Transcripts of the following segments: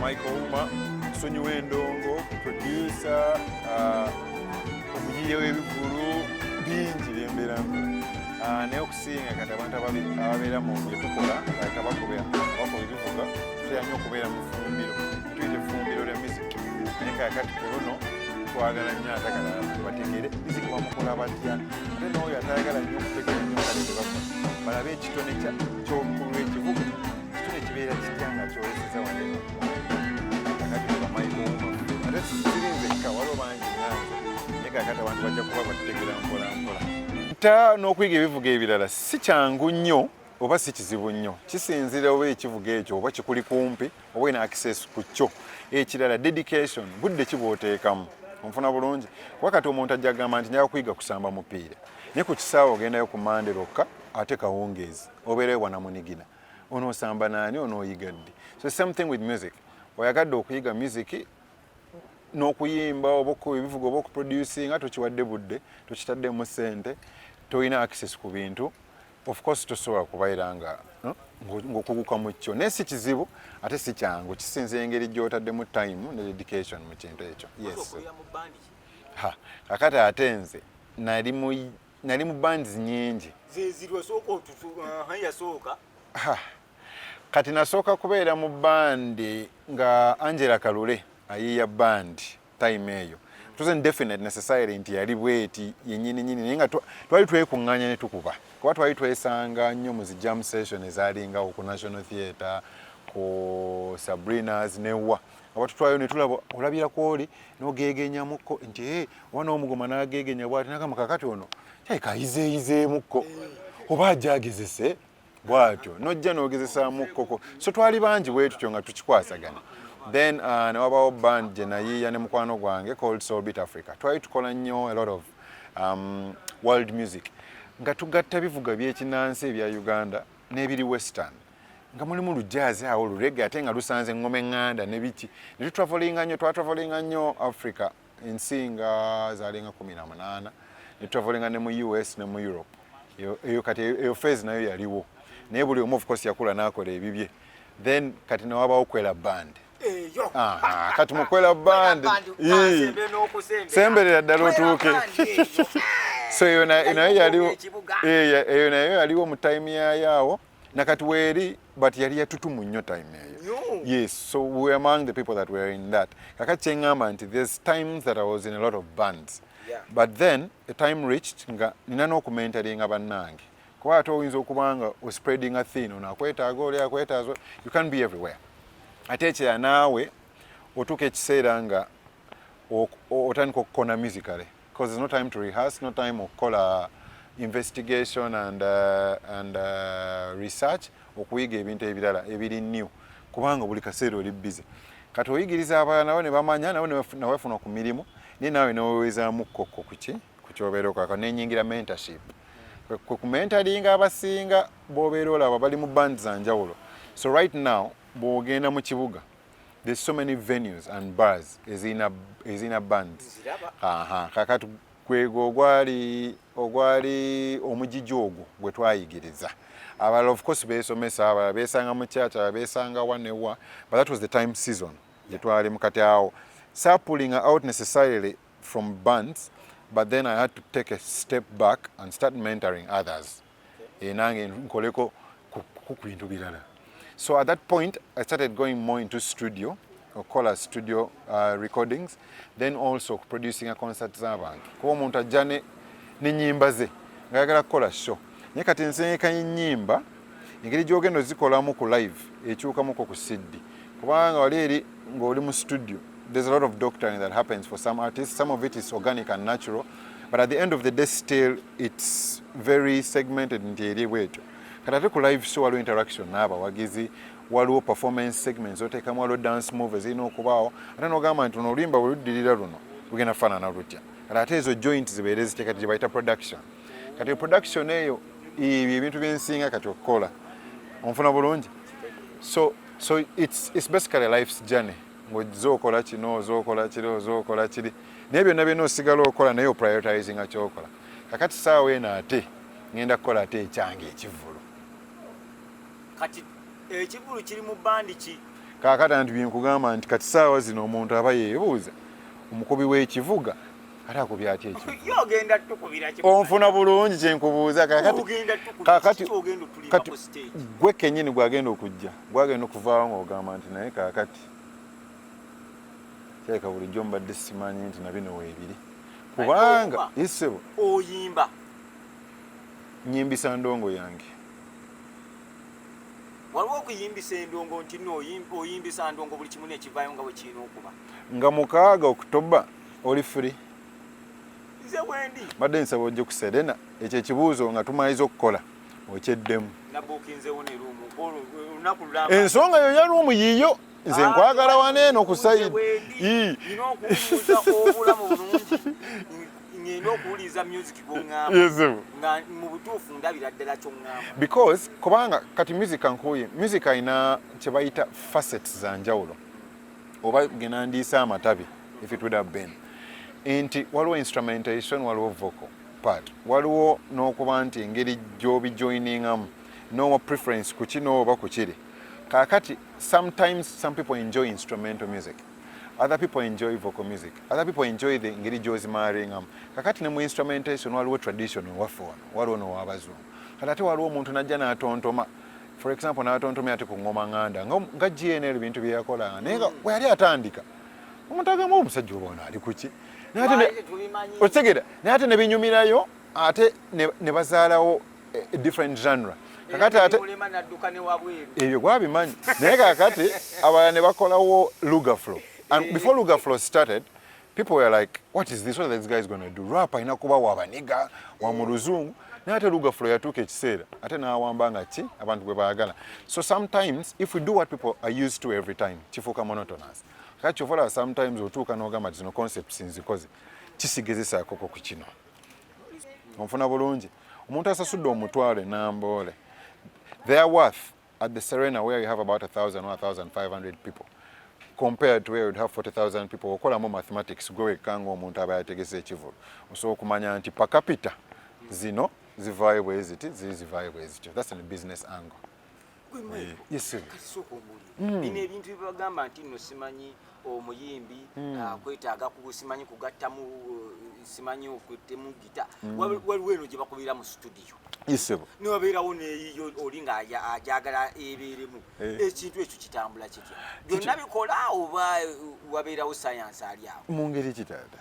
Michael Ouma, Sonyi Wendongo, producer, uh, omuyiye w'ebivulu bingi byembeera uh, naye okusinga kati abantu ababeera mu byetukola like abakuba ebivuga tutera nnyo okubeera mu fumbiro tuyita efumbiro lya miziki naye kakati ku luno twagala nnyo atagala bategere miziki bamukola batya ate nooyo atayagala nnyo okutegera nnyo kale tebakola balabe ekitone ky'okulu ekivuga ate n'okuyiga ebivuga ebirala si kyangu nnyo oba si kizibu nnyo kisinzira oba ekivuga ekyo oba kikuli kumpi oba ina access ku kyo ekirala dedication budde kibwoteekamu onfuna bulungi kuba kati omuntu ajja kugamba nti njaga kuyiga kusamba mupiira naye ku kisaawe ogendayo ku mande lwokka ate kawungeezi obeereyo bwanamunigina onosamba naani onoyiga ddi so same thing with music oyagadde okuyiga music n'okuyimba oba okukuba ebivuga oba okuproducinga tokiwadde budde tokitaddemu sente tolina access ku bintu of course tosobola kubaira nga ng'okuguka mu kyo naye si kizibu ate si kyangu kisinza engeri gy'otaddemu time ne dedication mu kintu ekyo yes kakati ate nze nali nali mu bands nyingi zezirwa sooka otutu uh, yasooka kati nasooka kubeera mu bandi nga angela kalule ayiiya bandi time eyo tuzen definite necessary nti yali bweti yenyini nyini naye nga twali twekunganya ne tukuba kuba twali twesanga nnyo mu zi jam session ezaalingawo ku national theatre ku sabrinas newa abatutwayo netulaba olabira kwoli nogegenyamuko nti e wana omugoma nagegenya bwati nagamba kakati ono kayizeyizemuko oba ajagezese bwatyo nojja nogezesamukkoko so twali bangi bwetutyo nga tukikwasagana then uh, newabawo band gyenayiiya ne mukwano gwange called solbit africa twali tukola nnyo a lot of um, world music nga tugatta bivuga byekinansi ebya uganda n'ebiri western nga mulimu lujaazi awo lurege ate nga lusanze ngoma eŋŋanda ne biki ne tutravolinga nnyo twatravolinga nnyo africa ensi nga zalinga kumi na munaana ne tutravolinga ne mu us ne mu europe eyo kati eyo fezi nayo yaliwo naye buli omu ofcourse yakula n'akola ebibye then kati newabawo kwela band kati mukwela band semberera ddala otuuke so eyo nayo yaliwo mu time yayo awo nakati weeri but yali yatutumu nnyo time eyo yes so we were among the people that were in that kakati kyeŋŋamba nti there's times that i was in a lot of bands yeah. but then a time reached nga nina n'okumentalinga bannange kuba ate oyinza okuba nga ospreading a thin ono akwetaaga oli akwetaaza you can be everywhere ate ekyeya naawe otuuka ekiseera nga otandika okukona musicale because there's no time to rehearse, no time of color investigation and, uh, and uh, research okuyiga ebintu ebirala ebiri new kubanga buli kaseera oli busy kati oyigiriza abalala nabo ne bamanya nabo newafuna ku mirimu naye nawe newewezaamu kkokko kuki ku kyobeera okaka nenyingira mentorship kwe kumentalinga abasinga bobeera olaba bali mu band za njawulo so right now bwogenda mu kibuga there's so many venues and bars ezina ezina bands aha kakati kwego ogwali ogwali omujiji ogwo gwe twayigiriza abalala of course besomesa abalala besanga mu church abalala besanga wanewa but that was the time season gye twali mukati awo sa pulling out necessarily from bands but then i had to take a step back and start mentoring others eh, nange nkoleko ku bintu birala so at that point i started going more into studio okukola studio uh, recordings then also okuproducinga concert z'abantu kuba omuntu ajja nenyimba ze nga yagala kukola show naye kati nsengeka enyimba engeri gyogenda ozikolamu ku live ekyukamuko ku siddi kubanga wali eri ng'oli mu studio there's a lot of doctoring that happens for some artists some of it is organic and natural but at the end of the day still it's very segmented nti eri bwetyo kati ate ku live show waliwo interaction n'abawagizi waliwo performance segments oteekamu waliwo dance move ezirina okubaawo ate nogamba nti luno oluyimba bwe luddirira luno lugenda kufaanana lutya kati ate ezo joint zibeere zitya kati gyebayita production kati production eyo ebyo ebintu byensinga kati okukola onfuna bulungi so so it's, it's basically life's journey ng'ojja okola kino oza okola kiri oza okola kiri naye byonna byonna osigala okola naye oprioritizinga kyokola kakati saawa eno ate ngenda kukola ate ekyange ekivulu kati ekivulu kiri mu bandi ki kakati anti byenkugamba nti kati saawa zino omuntu aba yeebuuza omukubi w'ekivuga ate akubyaki ekyo onfuna bulungi kyenkubuuza kakati gwe kenyini gwagenda okujja gwagenda okuvaawo ngaogamba nti naye kakati kyaleka bulijjo mbadde simanyi nti nabino weebiri kubanga isebo oyimba nyimbisa ndongo yange waliwo okuyimbisa endongo nti nooyimbisa ndongo buli kimu nekivayo nga bwekiina okuba nga mukaaga okutoba oli free nze wendi mbadde nsaba ojje ku serena ekyo ekibuuzo nga tumaliza okukola okyeddemu ensonga yo ya ruumu yiyo nze ah, nkwagala wana eno ku sayidi ngenda okuwuliriza music gwongamba mu butuufu ndabira ddala kyongamba because kubanga kati music ankuye music alina kye bayita facets za njawulo oba genandiisa amatabi if it would have been nti waliwo instrumentation waliwo vocal part waliwo n'okuba nti engeri gy'obijoiningamu nowa preference ku kino oba ku kiri kakati sometimes some people enjoy instrumental music other people enjoy vocal music other people enjoy the ngeri gyozimaaringamu kakati ne mu instrumentation waliwo traditional waffe wano waliwo nowabazungu kati ate waliwo omuntu najja n'atontoma for example natontomya ati ku ngoma nganda nga gnl bintu byeyakola naye nga mm. weyali atandika omuntu agamba omusajja oba ono ali kuki okitegera naye ate nebinyumirayo ate ne bazaalawo eh, different genre kakati ate ebyo gwabimanyi naye kakati abalala ne bakolawo lugaflo and before lugaflo started people were like what is this what this guy is going to do rap alina kuba wabaniga wa mu luzungu naye ate lugafula yatuuka ekiseera ate n'awamba nga ki abantu bwe baagala so sometimes if we do what people are used to every time kifuuka monotonous kati kyova olaba sometimes otuuka n'ogamba zino concepts nzikoze kisigezesaakoko ku kino onfuna bulungi omuntu asasudde omutwalo enamboole their worth at the Serena where you have about 1,000 or 1,500 people compared to where you'd have 40,000 people okolamu mathematics gwe wekka ng'omuntu aba yategese ekivulu osobola okumanya nti per capita zino zivaayo bwe ziti ziri zivaayo bwe zityo that's in business angle eh, yes sir hmm. bino ebintu byebagamba nti no simanyi omuyimbi hmm. ah, kwetaaga simanyi kugattamu eh, simanyi okuttemu gita hmm. waliwo eno gye bakubira mu situdiyo niwabeerawo neyiyo oli nga ajagala ebeeremu eh. ekintu ekyo kitambula kitya byonna bikola oba eh, wabeerawo sayansi ali awo mu ngeri kitata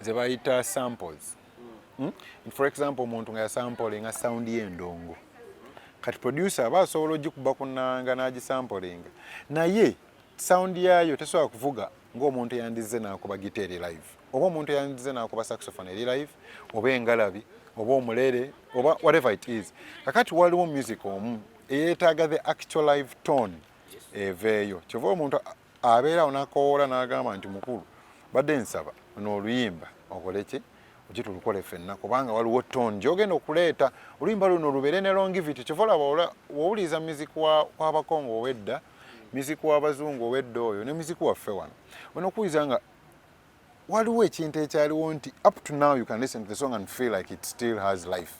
ze bayita samples hmm? for example omuntu nga yasampolinga sound y'endongo kati producer aba asobola ogikuba ku nnanga n'agisampolinga naye sound yaayo tesobola kuvuga ng'omuntu yandizze n'akuba gita eri live oba omuntu yandizze n'akuba saxophone eri live oba engalabi oba omulere oba whatever it is kakati waliwo music omu eyeetaaga the actual live tone eveeyo kyova omuntu abeera awo nakowoola n'agamba nti mukulu badde nsaba ono oluyimba okole ki oje tulukole fenna kubanga waliwo tone gyogenda okuleeta oluyimba luno lubeere ne longivity kyova olaba wowuliza muziki wabakongo owedda muziki wabazungu owedda oyo ne muziki waffe wano ono okuwuliza nga waliwo ekintu ekyaliwo nti up to now you can listen to the song and feel like it still has life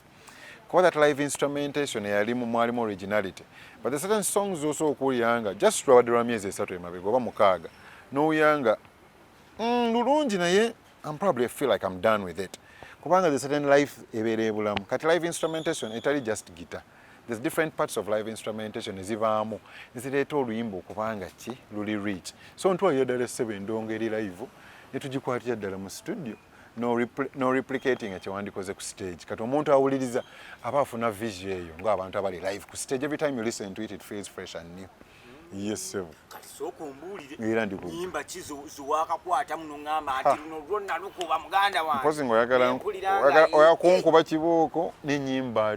kuba that live instrumentation eyalimu mwalimu originality but the certain songs also okuwulira nga just lwabadde lwa myezi esatu emabega oba mukaaga nowulira nga mm, lulungi naye am probably feel like am done with it kubanga the certain life ebeera ebulamu kati live instrumentation etali just guitar There's different parts of live instrumentation ezibaamu ezireeta oluyimba okubanga ki luli rich so ntwalira ddala essebo endongo eri live ne tugikwatira ddala mu studio no replicating ekyewandikoze ku stage kati omuntu awuliriza aba afuna vision eyo ngaabantu abali live ku stage every time you listen to it it feels fresh and new yesebo kati sooka ombuulire era ndi nyimba ki ziwaakakwata muno ŋŋamba nti luno lwonna lukuba muganda wange mpozi ngaoyagala oyakunkuba kibooko n'enyimba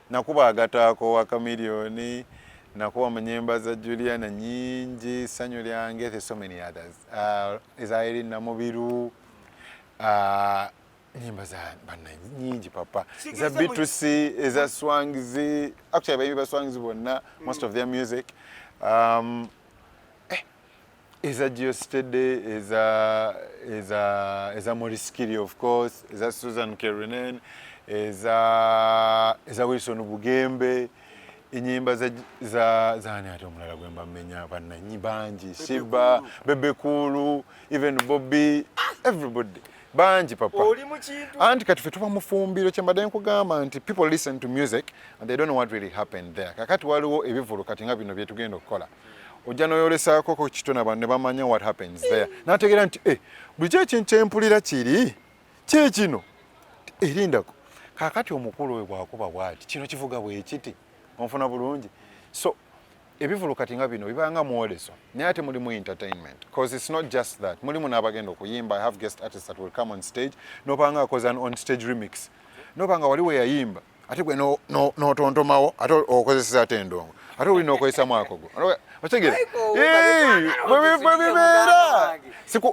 Nakuba agataako wa Chameleon, nakuba mu nyimba za Juliana nyingi, Sanyu lyange, there's so many others. Uh, eza Irene Namubiru, uh, nyimba za bana nyingi papa za B2C eza Swangz actually baimbi ba Swangz bonna most of their music um, eza geostede eza eza eza moriskiri of course eza susan kerenen eza eza wilson bugembe enyimba za za zani ati omulala gwemba menya bananyi bangi shiba bebe kulu even bobby everybody bangi papa anti kati fe tuba mufumbiro kyembadde nkugamba nti people listen to music and they don't know what really happened there kakati waliwo ebivulu kati nga bino byetugenda okukola ojja noyolesaako ko kitona bano ne bamanya what happens there nategeera nti e bulikyo ekintu kyempulira kiri kyekino erindako kakati omukulu oyo bwakuba bwati kino kivuga bwekiti onfuna bulungi so ebivulu kati nga bino bibanga mwoleso naye ate mulimu entertainment bcause its not just that mulimu n'abagenda okuyimba i have guest artists that will come on stage nobanga akoze an on stage remix nobanga wali weyayimba ate gwe notontomawo ate okozeseza ate endongo ate oli nokozesamu akogo otegere bwebibeera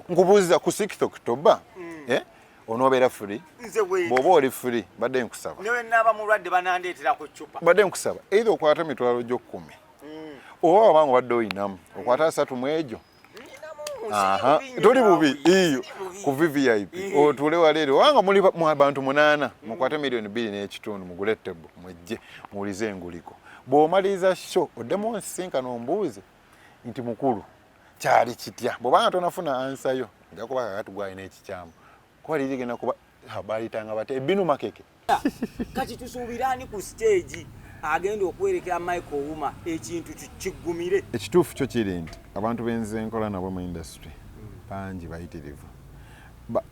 nkubuuziza ku sixth october hmm. eh? onobeera free bwoba oli free badde nkusaba badde nkusaba eitha okwata emitwalo gyokumi hmm. oba wabanga obadde oyinamu okwata asatu mu egyo Aha. Tuli bubi iyo ku VVIP. Otule wa lero wanga muli mu abantu munana mukwate milioni 2 n'ekitundu mugule table mujje mulize enguliko. Bw'omaliza show odemo nsinka n'ombuuze nti mukulu kyali kitya bw'obanga tonafuna ansa yo nja kuba kakati gwalina ekikyamu Kwa lili gena kuba habari tanga bate binu makeke. Kati tusubirani ku stage agenda okwerekera Michael Ouma ekintu kigumire. Ekituufu kyo kiri nti abantu benze nkola nabo mu industry bangi bayitirivu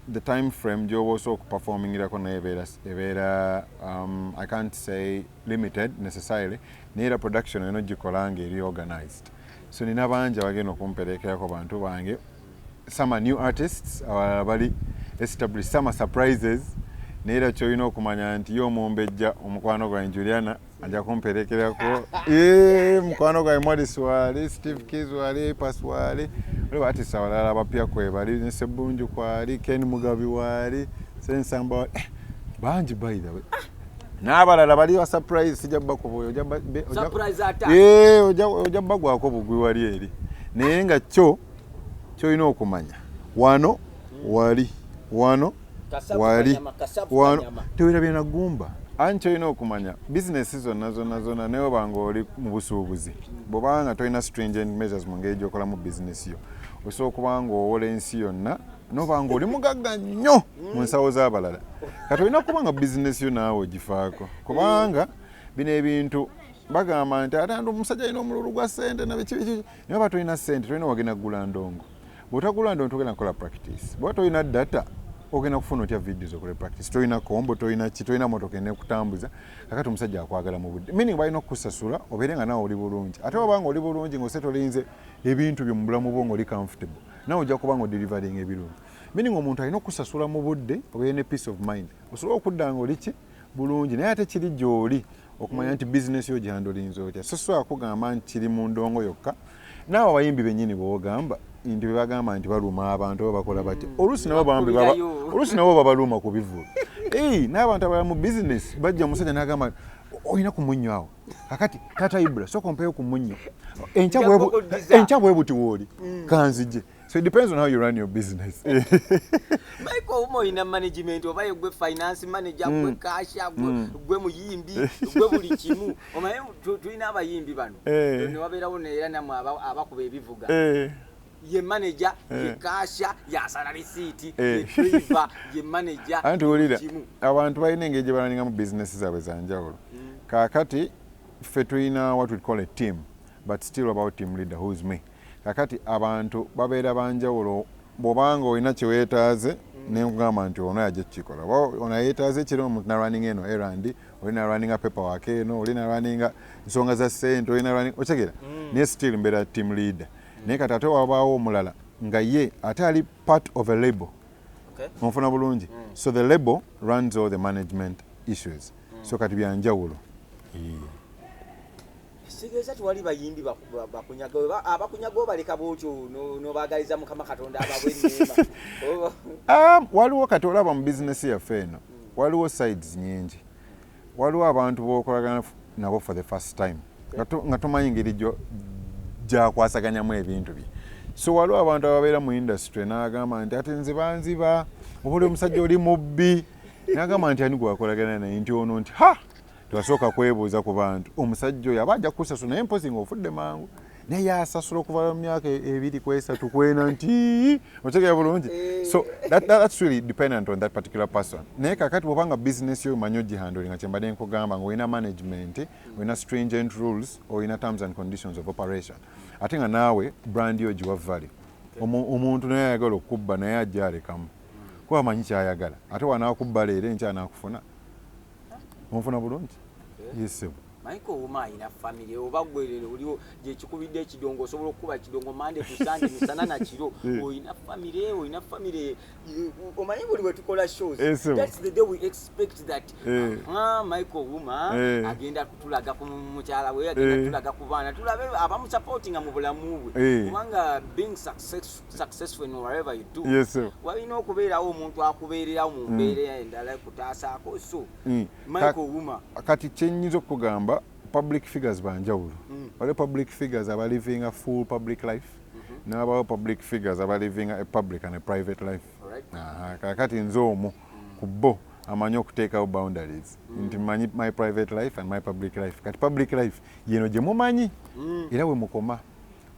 the time frame gyoba osooka okuperformingirako naye ebeera um, i can't say limited necessarily naye era production olina ogikola nga eri organized so nina bangi abagenda okumperekerako bantu bange some new artists abalala bali establish some surprises naye era kyolina okumanya nti ye omumbejja omukwano gwange juliana aja kumperekerako eh, mukwano gwange mwadisi wali steve kis wali pas wali waliwo artist abalala abapya kwebali nesebunju kwali ken mugabi wali sensamba wali eh, bangi by the way ah! n'abalala bali wa surprise sijja bakubuya ojja bagwako bugwi wali eri naye nga kyo kyolina okumanya wano wali wano wali wano tewerabye na gumba anti kyolina okumanya bizinesi zonna zonna zonna neoba nga oli mu busuubuzi bwobanga nga tolina stringent measures mu ngeri gyokolamu bizinesi yo osobola okuba nga owola ensi yonna noba nga oli mugagga nnyo mu mm. nsawo z'abalala kati olina kuba nga bizinesi yo naawe ogifaako kubanga bino ebintu bagamba nti ate ndi omusajja alina omululu gwa sente nabikibikiki naye oba tolina sente tolina wagenda kugula ndongo bwotagula ndongo togenda kukola practice bwoba tolina data ogenda kufuna otya videos okole practice tolina kombo tolina ki tolina motoka enekutambuza kakati omusajja akwagala mu budde meaning balina okukusasula obeere nga nawe oli bulungi ate wabanga oli bulungi ngaose tolinze ebintu byo mu bulamu bwo ngaoli comfortable nawe ojja kuba nga odelivering ebirungi meaning omuntu alina okukusasula mu budde obeere ne peace of mind osobole okudda nga oli ki bulungi naye ate kiri gyoli okumanya nti bizinesi yo gyandulinza otya sosobola kugamba nti kiri mu ndongo yokka naawe abayimbi bennyini bwogamba nti bebagamba nti baluma abantu oba bakola batya mm. oluusi nabo bambi oluusi nabo babaluma ku bivulu ei n'abantu abalala mu bizinesi bajja omusajja n'agamba olina ku munnyo awo kakati tata ibula soka ompeyo ku munnyo enkya bwebuti wooli mm. kanzije So it depends on how you run your business. Maiko umo ina management oba yegwe finance manager mm. gwe cash gwe mm. gwe muyimbi gwe buli kimu omaye tuina abayimbi bano hey. Eh. ne wabera wona era namwe abakuba ebivuga hey. Eh. ye manager hey. ye eh. kasha ya salary city hey. ye driver ye manager anti ulira abantu bayine ngeje bananinga mu business zabwe zanjawulo mm. kakati fe tuina what we call a team but still about team leader who's me Kakati abantu babeera banjawulo bwobanga olina kyewetaaze mm. nenkugamba nti ono yaja kukikola oba ono yetaaze ekiro omuntu nalwaninga eno erand oli nalwaninga pepa wake eno oli nalwaninga nsonga za sente oli nalwaninga okitegera mm. naye still mbeera team leader mm. naye kati ate wabaawo omulala nga ye ate ali part of a label onfuna bulungi so the label runs all the management issues so kati byanjawulo kitegeeza tewali bayimbi bakunyaga abakunyaga obaleka bwotyo nobagaliza mukama katonda ababwenema ah, waliwo kati olaba mu bizinesi yaffe eno hmm. waliwo sides nyingi waliwo abantu bokolagana nabo for the first time nga tomanyi ngeri gyakwasaganyamu ebintu bye so waliwo abantu ababeera mu industry nagamba nti ati nze banziba obaoli omusajja oli mubbi nagamba nti ani gwakolagana naye nti ono nti ha tewasooka kwebuuza ku bantu omusajja oyo aba ajja kukusasula naye mpozi nga ofudde mangu naye yasasula okuva mu myaka e-, ebiri ku esatu kwena nti otegera bulungi eh. so that, that, that's really dependent on that particular person naye kakati bwoba nga business yo manyi ogihanduli nga kyembadde nkugamba nga olina management olina stringent rules olina terms and conditions of operation ate nga naawe brand yo giwa valley omuntu naye ayagala okukubba naye ajja alekamu kuba amanyi kyayagala ate wanakubba leero enkya nakufuna onfuna bulungi eh? yesebo maiko ouma ayina famiry oba gwerere oliwo gyekikubidde ekidongo osobola okukuba ekidongo mande tusande misana nakiro eh. olina famiry olina famiry eh, omanyi buli wetukola showsmaiko ouma agenda kutulaga ku mukyala we agenda kutulaga ku baana tulabe abamusapotinga mu bulamu bwe kubanga being successful successful in whatever you do yes sir walina okubeerawo omuntu akubeererawo mu mm. mbeera endala ekutaasaako so mm. michael wuma kati kyenyinza okugamba public figures banjawulo mm. waliwo public figures aba living a full public life mm-hmm. nabawo public figures aba living a public and a private life kakati nze omu ku bo amanyi okuteekawo boundaries mm. nti manyi my private life and my public life kati public life yeno gye mumanyi mm. era we mukoma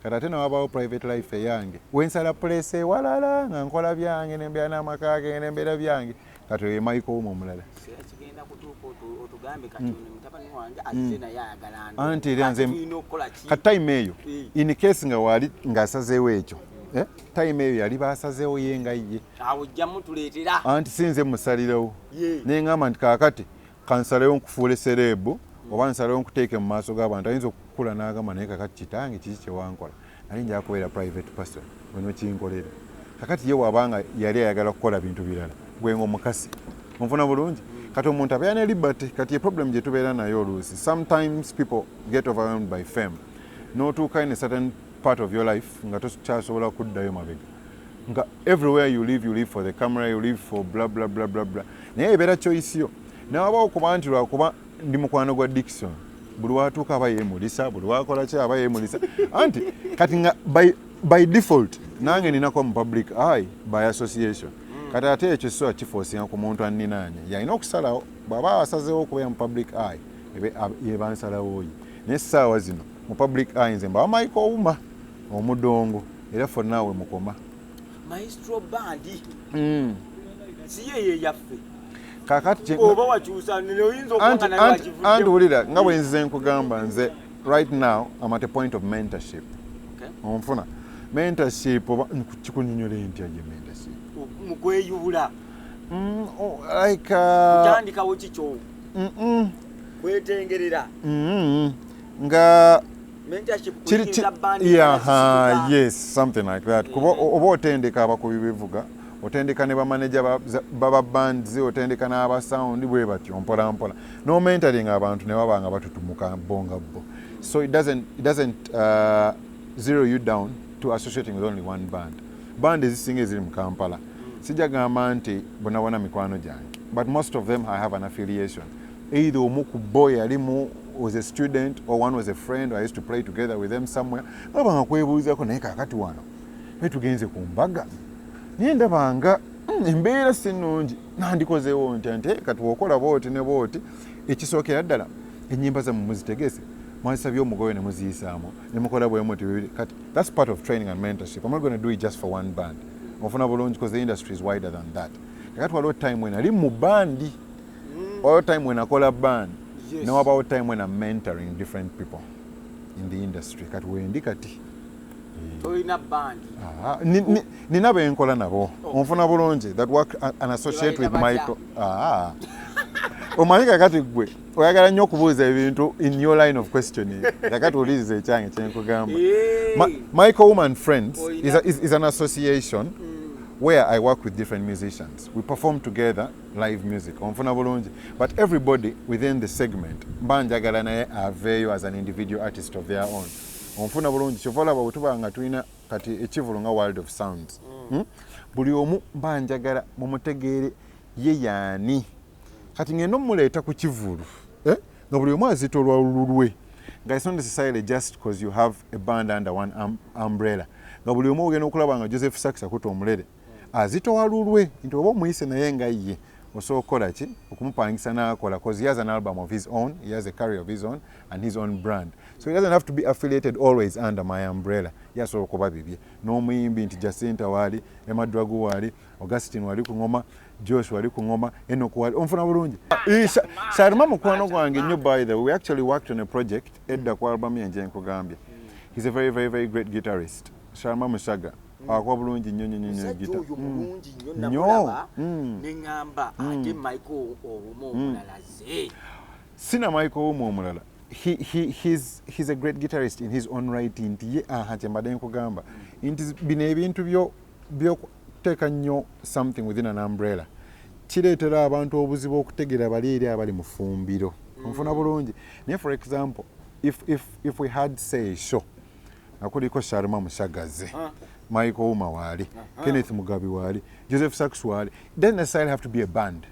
kati ate newabaawo private life eyange wensala pulesa ewalala nga nkola byange nembeera n'amaka gange nembeera byange kati oyo emaiko wumu omulala hmm. anti era nze kati time eyo eh. in case nga waali ng'asazeewo ekyo eh, time eyo yali basazeewo ye nga ye anti sinze musalirawo nengamba nti kakati kansalewo nkufuule sereebu oba nsalewo nkuteeke mu maaso g'abantu ayinza okukula n'agamba naye kakati kitange kiki kyewankola naye nja kubeera private person wenokinkolera kakati ye waba nga yali ayagala kukola bintu birala gwe nga omukasi onfuna bulungi kati omuntu abeera ne liberty kati ye problem gye tubeera naye oluusi sometimes people get overwhelmed by fame n'otuukayo ne certain part of your life nga tokyasobola kuddayo mabega nga everywhere you live you live for the camera you live for bla bla bla bla bla naye ebeera choice yo nawabawo kuba nti lwakuba ndi mukwano gwa dikson buli watuuka aba yemulisa buli wakola ki aba yemulisa anti kati nga by, by default nange ninako mu public eye by association mm. kati ate ekyo sisoa kifoosinga ku muntu anninaanye yalina okusalawo bwaba asazewo okubeera mu public eye yebansalawoyi naye saawa zino mu public eye nze mbawa mike owuma omudongo era fonna we mukoma maestro bandi mm. siyeyo eyaffe kakati oba wakyusa noyinza okuanga naye wakivuddemu anti wulira nga bwe nzize nkugamba nze right now am at a point of mentorship onfuna okay. mentorship oba kikunyonyola entya gye mentorship mukweyubula mm, oh, like uh, kutandikawo kikyo kwetengerera mm-hmm. nga kuba oba otendeka abakubi bivuga otendeka ne bamaneja baba bands otendeka n'aba sound bwe batyo mpolampola nomentering abantu ne baba nga batutumuka bo nga bo so it doesn't, it doesn't uh, zero you down to associating with only one band band ezisinga eziri mu kampala sijagamba nti bonabona mikwano gyange but most of them i have an affiliation either omu ku bo yali mu was a student or one was a friend or I used to play together with them somewhere baba nga kwebuuzako naye kakati wano naye tugenze ku mbaga naye ndaba nga hmm, embeera si nnungi nandikozeewo ntya nti kati wokola booti ne booti ekisookera ddala enyimba zamu muzitegese mwazisabye omugoyo ne muziyisaamu ne mukola bwemu ti bibiri kati that's part of training and mentorship i'm not going to do it just for one band ofuna bulungi because the industry is wider than that kakati waliwo time wenali mu bandi mm. wabawo time when akola ban yes. newabawo time when am mentoring different people in the industry kati wendi kati nina benkola nabo oh. onfuna bulungi that work an associate with michael ah. omanyi kakati gwe oyagala nnyo okubuuza ebintu in your line of questioning kakati oliriza ekyange kyenkugamba michael woman friends is, a, is, is an association mm. where i work with different musicians we perform together live music onfuna bulungi but everybody within the segment mba njagala naye aveeyo as an individual artist of their own onfuna bulungi kyova olaba wetuba nga tulina kati ekivulu nga world of sounds mm. hmm? buli omu mba njagala mumutegeere ye yaani kati ngenda omuleeta ku kivulu eh? nga buli omu azita olwalululwe nga it's not necessarily just because you have a band under one um, umbrella nga buli omu ogenda okulaba nga joseph saks akuta omulere azitowa lulwe nti oba omuyise naye nga ye osobola okukola ki okumupangisa nakola cause he has an album of his own he has a carrier of his own and his own brand so he doesn't have to be affiliated always under my umbrella ye asobola okuba bibye n'omuyimbi nti jacinta waali emadragu waali augustin wali ku ngoma josh wali ku ngoma enok wali omufuna bulungi sarima mukwano gwange nnyo by the way we actually worked on a project edda ku albamu yenje nkugambye he's a very very very great guitarist sarima musaga Mm. akuba bulungi nnyo nnyo nnyo gita nnyo neŋamba ate michael owumu omulala ze sina michael owumu omulala he, he, he's, he's a great guitarist in his own right nti ye aha kyembadde nkugamba nti bino ebintu byokuteeka nnyo something within an umbrella kireetera abantu obuzibu okutegeera bali eri abali mu fumbiro nfuna mm. bulungi naye for example if, if, if we had say show akuliko sharma musagaze ah. mike ouma waali ah. kenneth mugabi waali joseph sax waali doesn't necessarily have to be a band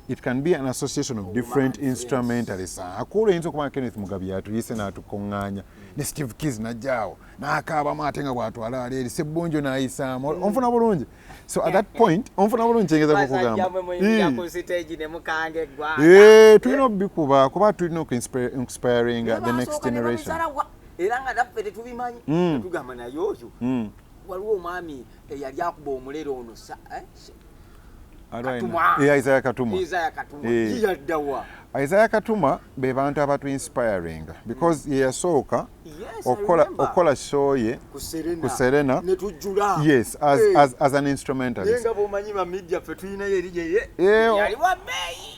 it can be an association of different oh, instrumentalists yes. akuula oyinza okuba kenneth mugabi yatuyise n'atukuŋŋaanya ne steve kis najjaawo n'akaabamu ate nga bwatwala ali eri sebbunjo n'ayisaamu mm. onfuna bulungi so at that point onfuna bulungi kyengeza kukugamba tulina okubikuba kuba tulina okuinspiringa the next generation era nga naffe tetubimanyi mm. tugamba naye oyo mm. waliwo omwami eyali akuba omulere ono eh, isaya katuma isaya eh. katuma be bantu abatu inspiringa because mm. yeyasooka okukola show ye ku serena yes as, hey. as, as an instrumentalist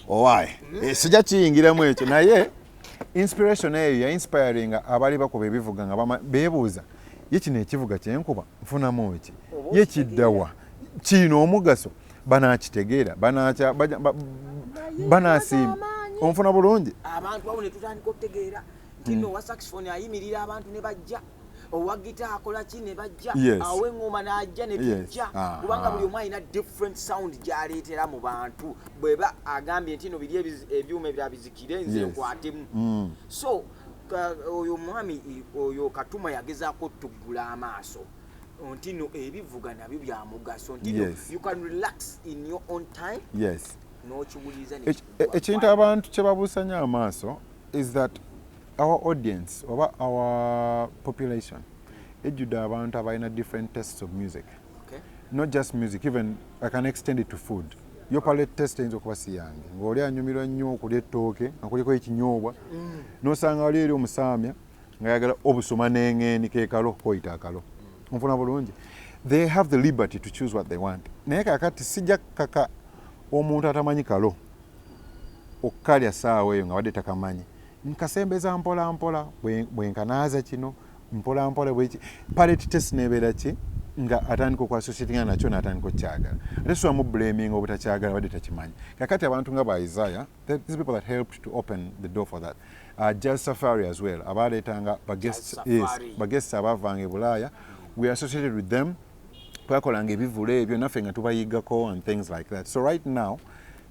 owaye eh, mm. sija kiyingiramu ekyo naye inspiration eyo ya inspiringa abaali bakuba ebivuga nga beebuuza ye kino ekivuga kyenkuba nfunamu ki ye kiddawa kiina omugaso banakitegeera banasiima onfuna bulungi abantu awo netutandika okutegeera tino mm. wa saxifoni ayimirira abantu ne bajja owa gita akola ki ne bajja awo eŋŋoma n'ajja ne tujja ah, kubanga ah. buli omu alina different sound gy'aleetera mu bantu bweba agambye nti no biri ebyuma ebira bizikire nze nkwatemu mm. so oyo omwami oyo katuma yagezaako tuggula amaaso nti no ebivuga nabyo bya mugaso nti no you can relax in your own time yes n'okiwuliriza ekintu abantu kye babuusanya amaaso is that Our audience oba our population ejjudde abantu abalina different tastes of music okay. not just music even I can extend it to food yo palate test eyinza okuba si yange ng'oli anyumirwa nnyo okulya ettooke nga kuliko ekinyoobwa mm. n'osanga wali eri omusaamya nga yagala obusoma n'eng'eni kekalo koyita akalo mm. nfuna bulungi they have the liberty to choose what they want naye kakati sijja kukaka omuntu atamanyi kalo okukalya saawa eyo nga wadde takamanyi Nkasembeza mpola mpola bwenkanaaza kino mpola mpola bweki palette test nebeera ki nga atandika okuassociatinga nakyo natandika okukyagala ate siwa mu blaming obutakyagala wadde takimanyi kakati abantu nga ba isaya these people that helped to open the door for that uh, jazz safari as well abaleetanga baguests yes, baguests abavanga ebulaaya we associated with them twakolanga ebivulu ebyo naffe nga tubayigako and things like that so right now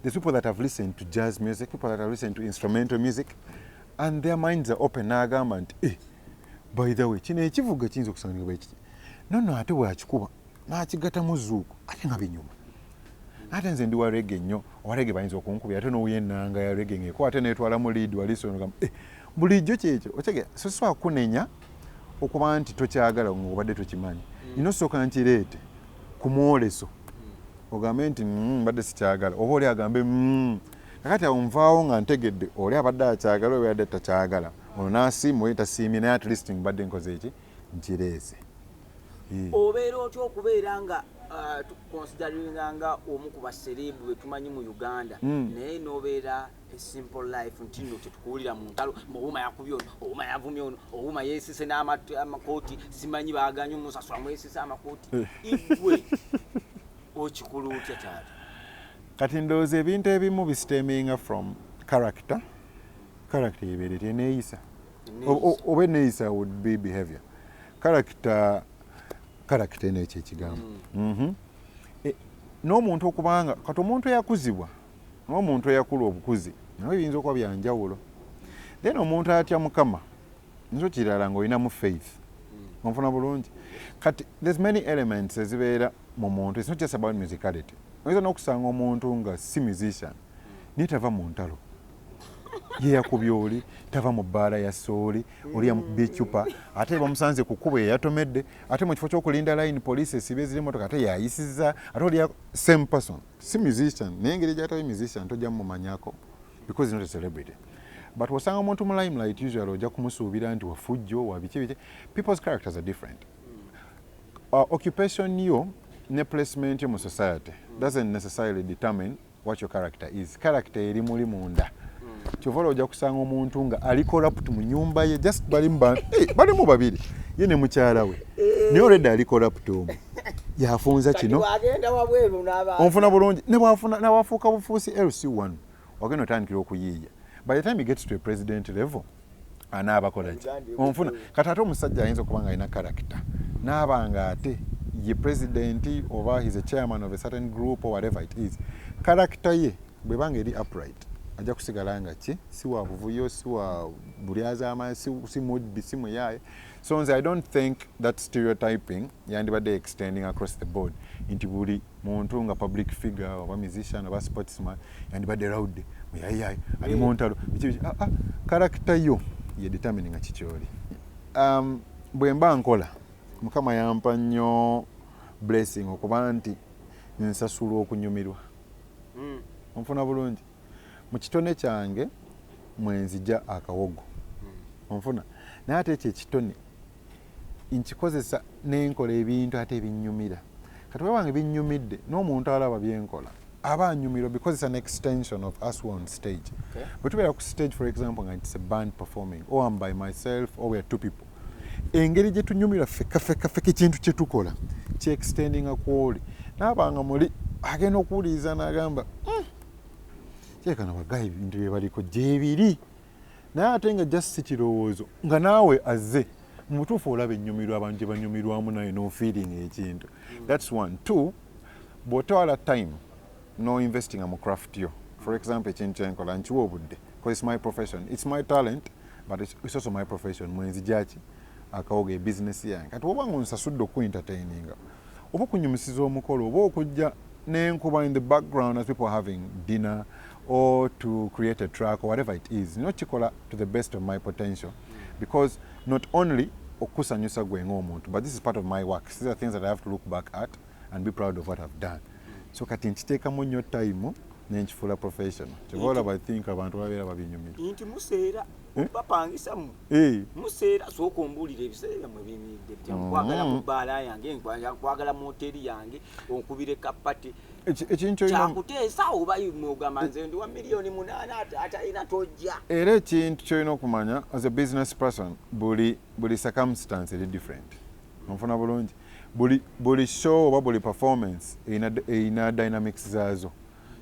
the people that have listened to jazz music people that have listened to instrumental music and their minds are open naagamba nti eh, by the way kino ekivuga kiyinza okusangibwa bwekiti nono ate bwakikuba nakigatamu zuuku ate nga binyuma ate nze ndi warege nnyo owarege bayinza okunkubi ate nowuya enanga ya rege ngeko ate netwalamu lead walisonogamu eh, bulijjo kyekyo otegera sosiwa kunenya so, okuba nti tokyagala ng'obadde tokimanyi mm. nina osooka nkireete ku mwoleso mm. ogambe nti mm, mbadde sikyagala oba oli agambe kakati awo nvaawo nga ntegedde oli abadde akyagala oba yadde takyagala ono nasiima oye tasiimye naye at least mbadde nkoze eki nkireese obeera otya okubeera nga uh, tukukonsideringa nga omu ku basereebu betumanyi mu uganda naye nobeera simple life nti nno tetukuwulira mu ntalo muwuma yakubye ono owuma yavumye ono owuma yeesise n'amakooti simanyi baaganye omusasula mwesise amakooti eh. igwe okikulu otya taata kati ndowooza ebintu ebimu bisiteminga from character character yebeere teneeyisa oba eneeyisa would be behavior character character eno ekyo ekigambo mm. mhm. eh, n'omuntu okubanga kati omuntu eyakuzibwa Ng'omuntu eyakula obukuzi nabyo biyinza okuba bya njawulo. Then omuntu atya Mukama nakyo kirala ng'olinamu faith. Onfuna bulungi? Kati there's many elements ezibeera mu muntu. It's not just about musicality. Oyinza n'okusanga omuntu nga si musician naye tava mu ntalo. Ye yakubye oli, tava mu bbaala ya sooli, oli yamukubye eccupa, ate bamusanze ku kkubo yeyatomedde, ate mu kifo ky'okulinda line poliisi esiba eziri emmotoka ate yayisizza, ate oli ya same person. si musician naye engeri gyatabe musician tojja mumanyako because not a celebrity but wasanga omuntu mu limelight usual ojja kumusuubira nti wafujjo wabiki biki people's characters are different uh, occupation yo ne placement yo mu society doesn't necessarily determine what your character is character eri muli munda kyova olwo ojja kusanga omuntu nga ali corrupt mu nyumba ye just balimu balimu babiri ye ne mukyala we naye olwedda ali corrupt omu yafunza kino onfuna bulungi newafuuka bufuusi lc1 wagenda otandikira okuyiiya by the time gets to a president level anaabakolaki onfuna kati ate omusajja ayinza okuba nga alina karakita naaba nga ate ye presidenti oba his a chairman of a certain group or whatever it is karakita ye bwebanga eri upright ajja kusigala nga ki si wa buvuyo si wa bulyazaamaanyi si mudbi si muyaaye si so nze i don't think that stereotyping yandibadde extending across the board nti buli muntu nga public figure oba musician oba sportsman yandibadde rawude muyayayi ali mu ntalo karakita ah, ah, yo ye determini nga kikyoli um, bwe mba nkola mukama yampa nnyo blessing okuba nti nsasulwa okunyumirwa hmm. onfuna bulungi mu kitone kyange mwenzija akawogo hmm. onfuna naye ate ekyo ekitone nkikozesa nenkola ebintu ate ebinyumira kati webange binyumidde n'omuntu alaba byenkola aba anyumiro because it's an extension of us were on stage okay. but tubeera ku stage for example nga it's a band performing or oh, am by myself or oh, weare two people engeri gye tunyumira feka feka feka ekintu kye tukola kye extendinga kwoli naabanga muli agenda okuwuliriza n'agamba mm. kyekana bagayi bintu byebaliko gyebiri naye ate nga just si kirowoozo nga naawe azze mu butuufu olaba ennyumirwa abantu gye banyumirwamu naye nofeeling ekintu thats one two bw'otwala time no investinga mu craft yo for example ekintu kyenkola nkiwa obudde bcause its my profession its my talent but its also my profession mwenzijaki akawoga e business yange kati woba nga onsasudde oku entertaininga oba okunyumisiza omukolo oba okujja nenkuba in the background as people are having dinner or to create a track or whatever it is nyo kikola to the best of my potential because not only okusanyusa gwe ng'omuntu but this is part of my work these are things that i have to look back at and be proud of what i've done so kati nkiteekamu nnyo time nenkifuula professional kyoba olaba i think abantu babeera babinyumira nti museera eh? bapangisa mu eh. museera sooka ombuulira ebiseera byammwe biyimiridde bitya mm. nkwagala mu bbaala yange nkwagala mu hoteeri yange onkubire kapati kyakuteesa oba ogamba nze ndi wa miliyoni munaana atalina tojja era ekintu kyolina okumanya as a business person buli buli circumstance eri different onfuna bulungi buli buli show oba buli performance erina dynamics zaazo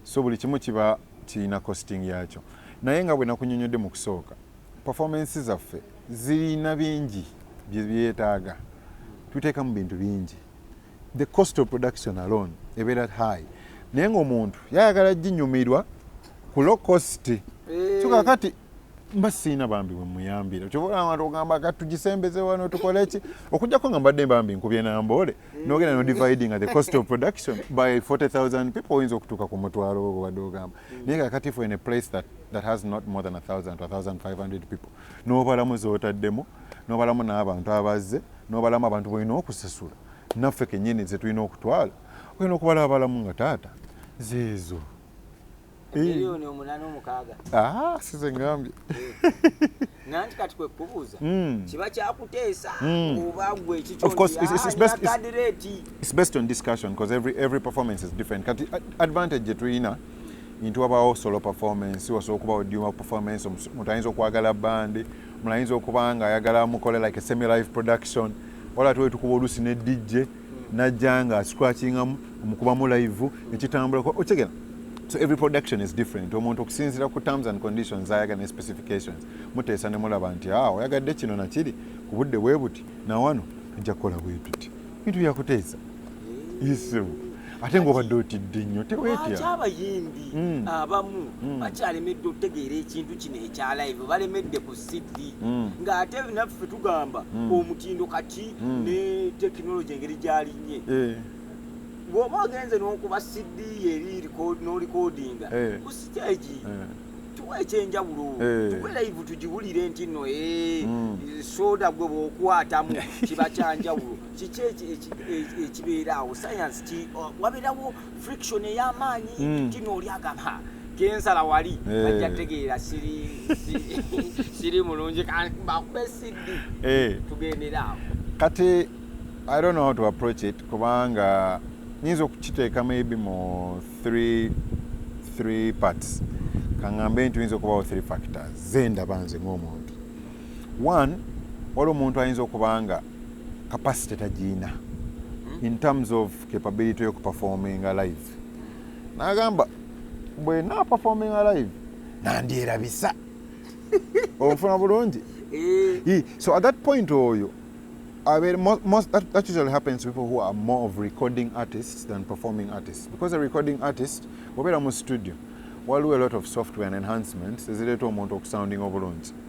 so buli kimu kiba kirina costing yaakyo naye nga bwe nakunyonyodde mu kusooka performance zaffe zirina bingi byebyetaaga tuteekamu bintu bingi the cost of production alone ebeera high naye ngaomuntu yayagala ginyumirwa ku low cost eh. so kakati mba siina bambi wemuyambira kyobaola abantu ogamba katugisembeze wano tukoleki okujjako nga mbadde bambi nkubye namboole nogenda no dividing the cost of production by 40000 people oyinza okutuuka ku mutwalo ogwo wadde ogamba mm. naye kakati for in a place that, that has not more than 1000 to 1500 people nobalamu zotaddemu nobalamu n'abantu abazze nobalamu abantu bolina okusasula naffe kenyini zetulina okutwala olina okubala abalamu nga taata zeezo miliyoni eh. omunana omukaaga ah, size ngambye nanti kati kwekubuuza hmm. kiba kyakuteesa hmm. oba gwe ekikyonkadreetiekati ah, uh, advantage gyetulina nti wabaawo solo performance wasobola okuba odiuma performance omuntu ayinza okwagala bandi omuntu ayinza okuba nga ayagala mukole like a semi life production wala tuwetukuba oluusi ne dj najja nga scratchingamu omukubamu live ekitambula okitegera so every production is different omuntu okusinzira ku terms and conditions ayaga ne specifications muteesa ne mulaba nti ah, oyagadde kino nakiri ku budde bwe buti nawano ajja kukola bwe tuti bintu byakuteesa isimu ate ngaobadde otidde nnyo tewetyaki abayimbi hmm. abamu hmm. bakyalemedde okutegeera ekintu kino ekya live balemedde ku cd hmm. ng'ate naffe tugamba omutindo kati ne tekinologi engeri gyalinnye eh. bwoba ogenze n'okuba cd eri nolikodinga eh. ku sitegi eh. tuwa ekyenjawulo eh. tuwe live tugiwulire nti no soda gwe bwokwatamu kiba kyanjawulo kiki ekibeera awo sayansi ki wabeerawo friction ey'amaanyi hmm. kino oli agamba kensala wali eh. ajja tegeera siri mulungi bakube siddi eh. tugendera awo kati i don't know how to approach it kubanga nyinza okukiteeka maybe mu three, three parts kaŋambe nti oyinza okubawo three factors zendaba nze ng'omuntu one wali omuntu ayinza okuba nga capacity tagiyina hmm? in terms of capability yo kuperforminga live nagamba bwe naperforminga live nandyerabisa onfuna bulungi eh. so at that point oyo abeere most that, that usually happens to people who are more of recording artists than performing artists because a recording artist obeera mu studio waliwo a lot of software and enhancements ezireeta omuntu okusounding obulungi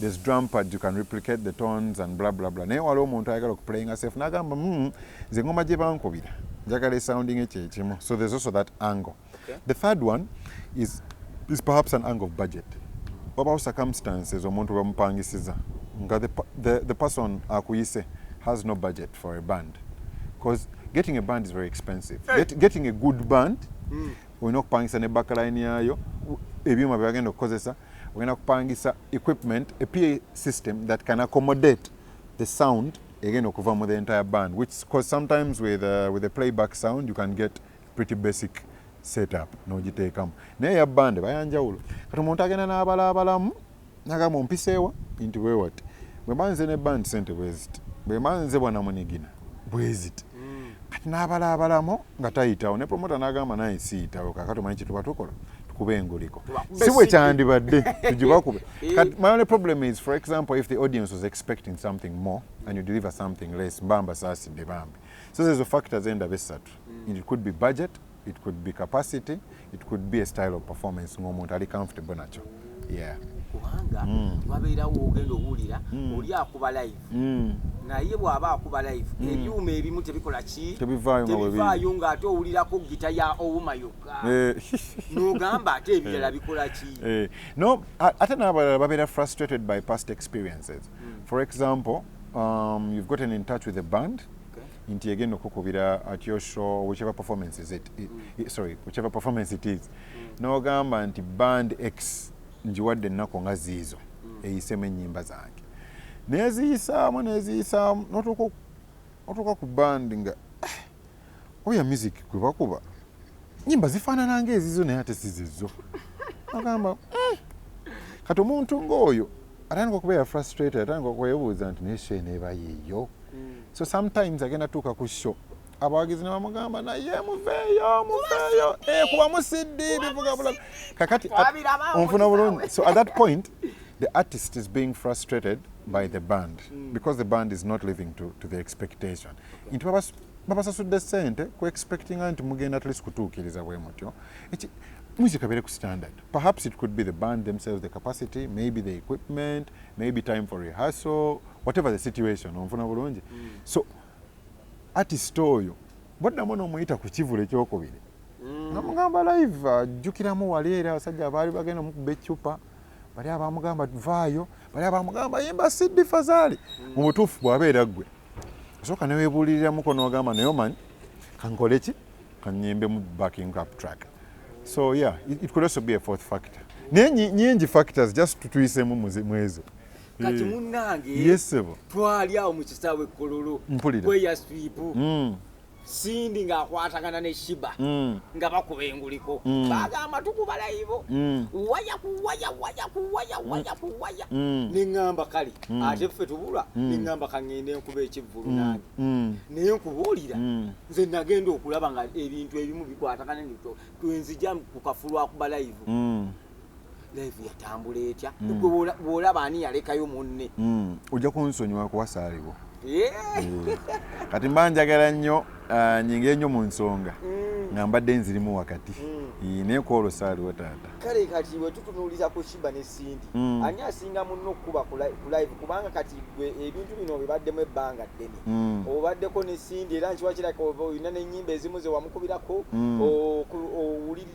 there's drum pads you can replicate the tones and blah blah blah naye waliwo omuntu ayagala okuplayinga safe nagamba mm, nze ngoma gye bankubira njagala esounding ekyekimu so there's also that angle okay. the third one is, is perhaps an angle of budget wabawo circumstances omuntu bamupangisiza nga the, the, the person akuyise has no budget for a band because getting a band is very expensive hey. Get, getting a good band mm. olina okupangisa ne backline yayo ebyuma byebagenda okukozesa ogenda kupangisa equipment a pa system that can accommodate the sound again okuva mu the entire band which because sometimes with, uh, with the playback sound you can get pretty basic setup nogiteekamu naye ya band bayanjawulo kati omuntu agenda n'abalaabalamu nagamba ompiseewa nti wewati bwemba nze ne band sente bweziti bwemba nze bwanamunigina bweziti kati nabala abalamo nga tayitawo ne promota nagamba naye siyitawo kakati omanyi kyetuba tukola tukuba enguliko si bwe kyandibadde tugibakube eh. kati my only problem is for example if the audience was expecting something more and you deliver something less mba mbasaasidde bambi so zezo factors endaba essatu mm. it could be budget it could be capacity it could be a style of performance ng'omuntu ali comfortable nakyo yeah kubanga mm. wabeerawo ogenda owulira mm. oli akuba live mm. naye bw'aba akuba live mm. ebyuma ebimu tebikola ki tebivaayo ng'ate owulirako gita ya owuma yokka eh. n'ogamba ate ebirala eh. bikola ki eh. no ate n'abalala babeera frustrated by past experiences mm. for example um, you've gotten in touch with a band nti egenda okukubira at your show whichever performance is it, it, it sorry whichever performance it is mm. nogamba nti band x njiwadde ennaku nga ziizo mm. eyisemu ennyimba zange neziyisaamu neziyisaamu notuuka ku band nga eh, oya music gwe bakuba nyimba zifaanana ngaezizo naye ate sizizo agamba mm. kati omuntu ngaoyo atandika okubeera frustrated atandika okwebuuza nti naye sho eneeba yeeyo mm. so sometimes agenda tuuka ku sho abawagizi nebamugamba naye muveeyo muveeyo eh, kuba musidi bivuga bulaga kakati onfuna bulungi so at that point the artist is being frustrated by the band mm. because the band is not living to, to the expectation okay. babasasudde sente ku expectinga nti mugenda atleast kutuukiriza bwe mutyo music abere ku standard perhaps it could be the band themselves the capacity maybe the equipment maybe time for rehearsal whatever the situation onfuna bulungi mm. so artist oyo bwaddamu nomuyita ku kivulu ekyokubiri mm. namugamba live ajjukiramu wali era abasajja baali bagenda mukuba eccupa bali abamugamba vaayo bali abamugamba yimba siddi fazaali mm. mu butuufu bwabeera ggwe osooka newebuuliriramuko nogamba naye omanyi kankole ki kanyimbe mu backing up track so yeah it, it could also be a fourth factor naye nyingi factors just tutuyisemu mwezo kati eh, munange twali awo mu kisaawe kololo mpulira kweya swipu mm. Cindy ng'akwatagana ne Shiba mm. nga bakuba enguliko mm. bagamba tukuba layibo mm. waya kuwaya waya kuwaya waya kuwaya ne ŋŋamba kale ate ffe tubula ne ŋŋamba kaŋŋenda enkuba ekivvulu nange naye nkubuulira nze nagenda okulaba nga ebintu ebimu bikwatagana nto twenzija ku kafulu akuba layivu live yatambula etya mm. bwolaba ani yalekayo munne mm. ojja kunsonyiwa kuwasaaliwo eh. kati mba njagala nnyo ah, nyinga enyo mu nsonga mm. nga mbadde nzirimu wakati naye kwolwo saaliwo taata kale kati wetutunuuliza ku shiba ne sindi ani asinga munno okukuba ku live kubanga kati gwe ebintu bino obibaddemu ebbanga ddene obaddeko ne sindi era nkiwakiraka olina nenyimba ezimu zewamukubirako owuliri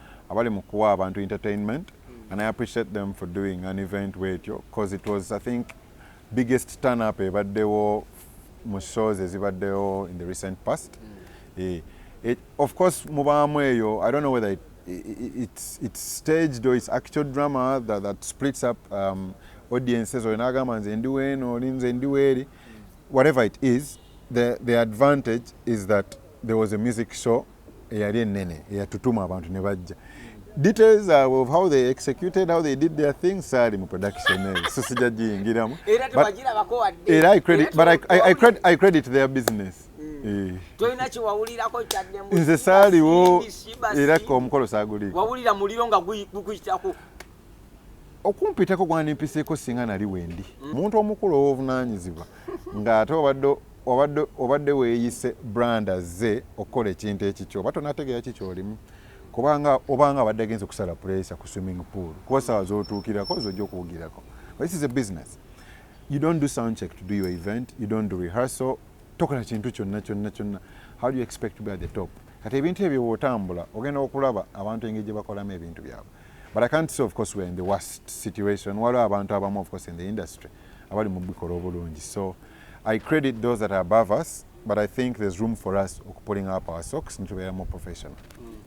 abali mu kuwa abantu entertainment and I appreciate them for doing an event wetyo because it was I think biggest turn up ebaddewo mu shows ezibaddewo in the recent past mm. eh, it, of course mubaamu eyo I don't know whether it, it, it's, it's staged or it's actual drama that, that splits up um, audiences oyo nagamba nze ndi weeno oli nze ndi weeri whatever it is the, the advantage is that there was a music show eyali enene eyatutuma abantu ne bajja details of how they executed how they did their things sali mu production eyo so sija jiyingiramu era i credit but I, I, I, credit, I credit their business mm. eh. tolina kyewawulirako kyaddemu nze saaliwo era omukolo saaguliiko wawulira muliro nga gukuyitako okumpitako gwandimpiseeko singa nali wendi muntu omukulu ow'obuvunaanyizibwa ng'ate obadde obadde obadde weeyise brand azze okukola ekintu ekikyo oba tonategeera ki kyolimu kubanga obanga abadde agenze okusala pureesa ku swimming pool kuba sawa zotuukirako zojja okuwugirako this is a business you don't do sound check to do your event you don't do rehearsal tokola kintu kyonna kyonna kyonna how do you expect to be at the top kati ebintu ebyo wotambula ogenda okulaba abantu engeri gye bakolamu ebintu byabwe But I can't say of course we're in the worst situation. Waliwo abantu abamu of course in the industry abali mu bikola obulungi. So I credit those that are above us, but I think there's room for us pulling up our socks and to be more professional.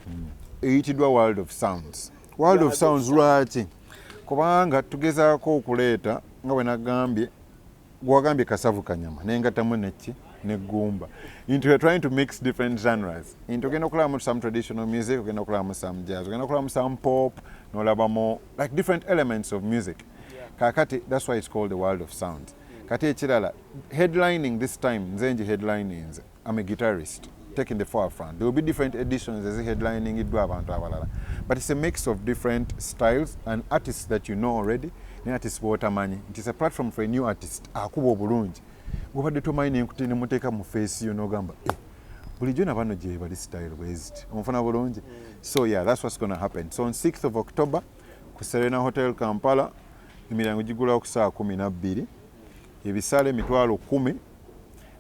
Mm. Eyitidwa world of sounds. World of sounds lwaki? Kubanga tugezaako okuleeta nga bwe nagambye gwagambye kasavu kanyama nengattamu nekki ne ggumba into you're trying to mix different genres into ogenda okulabamu some traditional music ogenda okulabamu some jazz ogenda okulabamu some pop nolabamu like different elements of music kakati that's why it's called the world of sounds kati ekirala headlining this time nze nji headliningze I'm a guitarist taking the forefront. There will be different editions as headlining it abantu abalala. But it's a mix of different styles and artists that you know already ne artists b'otamanyi. It is a platform for a new artist akuba obulungi. Gwobadde tomanyi ne nkuti ne muteeka mu face yo n'ogamba eh, bulijjo na bano gye bali style bweziti onfuna bulungi so yeah that's what's gonna happen so on 6th of october ku serena hotel kampala emiryango gigulawo ku saa kumi nabbiri ebisale emitwalo kumi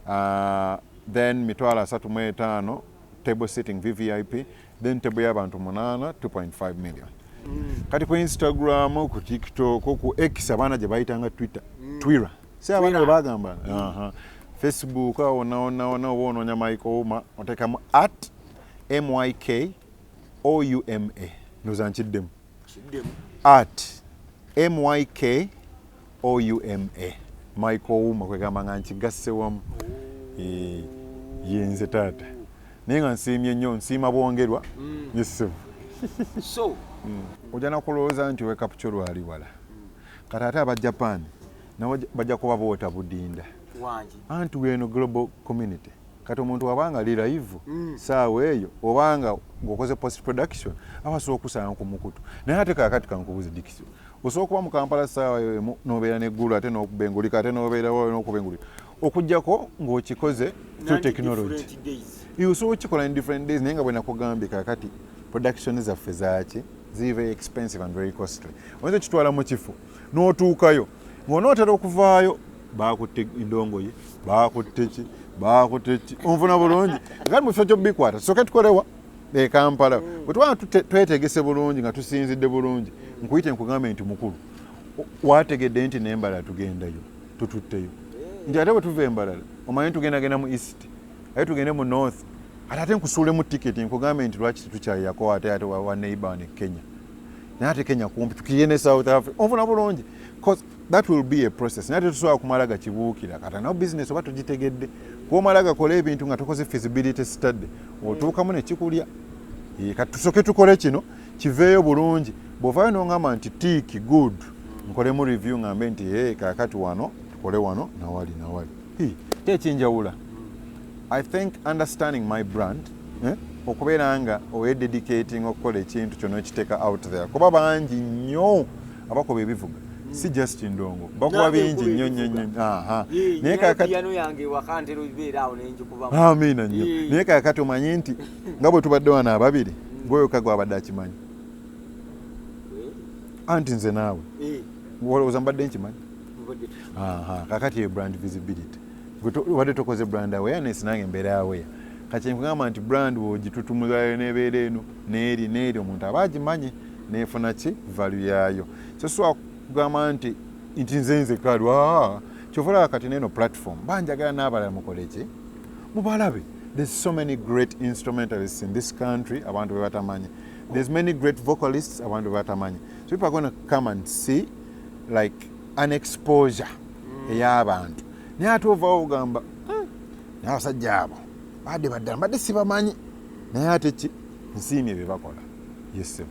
uh, then mitwalo asatu mu etaano table sitting vvip then table y'abantu munaana 2.5 million mm. kati ku instagram ku tiktok ku x abaana gye bayitanga twitter mm. twira si abaana bwe bagamba mm. uh -huh. facebook awo onaonaona oba onoonya mike ouma oteekamu at myk ouma ndoza nkiddemu at myk ouma mike ouma kwegamba nga nkigasse wamu eh, yenze taata naye nga nsiimye nnyo nsiima bwongerwa mm. yesibu mm. ojja nakulowooza nti wekapukyo lwali wala kati ate aba japan nabo bajja kuba boota budinda anti weno global community kati omuntu waba nga li live mm. saawa eyo obanga ngaokoze post production aba asobola okukusanga ku mukutu naye ate kakati kankubuzi dikisio osobola okuba mu kampala saawa eyo emu nobeera neggulu ate nokubengulika ate nobeerawo nokubengulika okujjako ngaokikoze through technology osobola okukikola in different days naye nga bwenakugambye kakati production zaffe zaaki ziri very expensive and very costly oyinza okitwala mu kifo n'otuukayo ng'onootera okuvaayo baakutte endongoye baakutte ki baakutte ki onfuna bulungi kati mu kifo ky'obikwata tusoke tukolewa e kampala bwe twaba twetegese bulungi nga tusinzidde bulungi nkuyite nkugambe nti mukulu wategedde nti nembala tugendayo tututteyo nti ate bwe tuva embalala omanye tugendagenda mu east aye tugende mu north ate ate nkusuulemu tiketi nkugambe nti lwaki tetukyayako ate ate waneiba ne kenya naye ate kenya kumpi tukiye ne south africa onfuna bulungi cause that will be a process naye tetusobola kumala gakibuukira kata nawo business oba tugitegedde kuomala gakola ebintu nga tokoze feasibility study otuukamu nekikulya kati tusoke tukole kino kiveeyo bulungi bwovayo nongamba nti tiiki good nkolemu review ngambe nti e kakati wano tukole wano nawali nawali kyekinjawula i think understanding my brand eh? okubeera nga oyededicating okukola ekintu kyona okiteeka out there kuba bangi nnyo abakuba ebivuga si just ndongo bakuba bingi nnyo nnyo nnyo naye kakatiamiina nnyo naye kakati omanyi nti nga bwe tubadde wano ababiri gweyoka gwabadde akimanyi anti nze naawe olowooza mbadde nkimanyi aha kakati eyo brand visibility wadde tokoze brand awareness nange mbeera aware kati nkugamba nti brand wogitutumuzayo nebeera eno neeri neeri omuntu aba agimanyi nefuna ki valu yaayo sosobola kugamba nti nti nze nzeka lwa kyova olaba kati neeno platform banjagala n'abalala mukole ki mubalabe there's so many great instrumentalists in this country abantu bebatamanyi there's many great vocalists abantu bebatamanyi so people are gonna come and see like an exposure mm. eyabantu naye ate ovawo ogamba hmm, naye abasajja abo bade baddala mbadde sibamanyi naye ate ki nsiimye byebakola yesebo